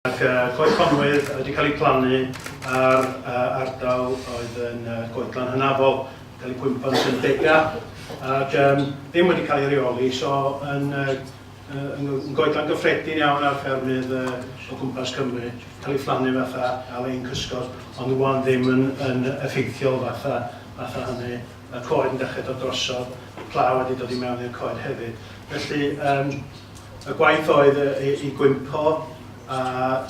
Ac y coed conwydd wedi cael eu plannu ar ardal oedd yn goedlan hynafol, cael eu cwympo'n Sir Bega, ac um, ddim wedi cael ei reoli, so yn, yn, yn goedlan gyffredin iawn ar ffermydd o gwmpas Cymru, cael ei phlannu fatha ar ein cysgod, ond rwan ddim yn, yn effeithiol fatha, fatha hynny. y coed yn dechrau dod drosodd, y pla wedi dod i mewn i'r coed hefyd. Felly um, y gwaith oedd i, i gwympo a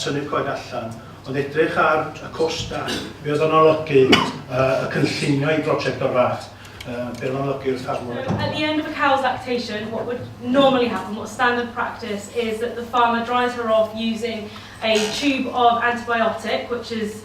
tynnu'r coed allan, ond edrych ar y costa, be oedd o'n olygu uh, y cynllunio i brosiect o'r fath, uh, be oedd o'n olygu wrth armwr. At the end of a cow's lactation, what would normally happen, what standard practice, is that the farmer dries her off using a tube of antibiotic, which is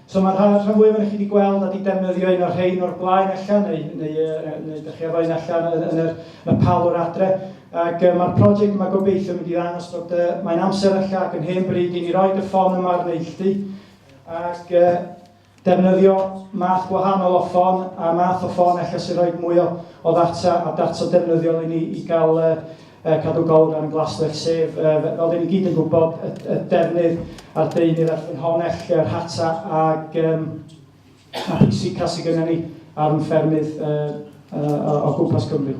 So mae'r hanner rhan fwyaf o'n chi wedi gweld a wedi defnyddio un o'r rhain o'r blaen allan neu, neu, neu, neu ydych chi efo un allan yn, yn, yr, yn y palwr adre. Ac uh, mae'r prosiect yma gobeithio mynd i ddangos bod uh, mae'n amser allan ac yn hen bryd i ni roed y ffôn yma ar neilltu ac uh, defnyddio math gwahanol o ffôn a math o ffôn efallai sy'n rhoi mwy o, o ddata a data defnyddiol i ni i gael uh, uh, cadw golwg ar yn glaswellt, sef, uh, fel dyn ni gyd yn gwybod, y, y defnydd a'r deunydd a'r ffynhonell, yr hata ag um, a pwysica sydd gennym ni ar yn ffermydd uh, uh, o gwmpas Cymru.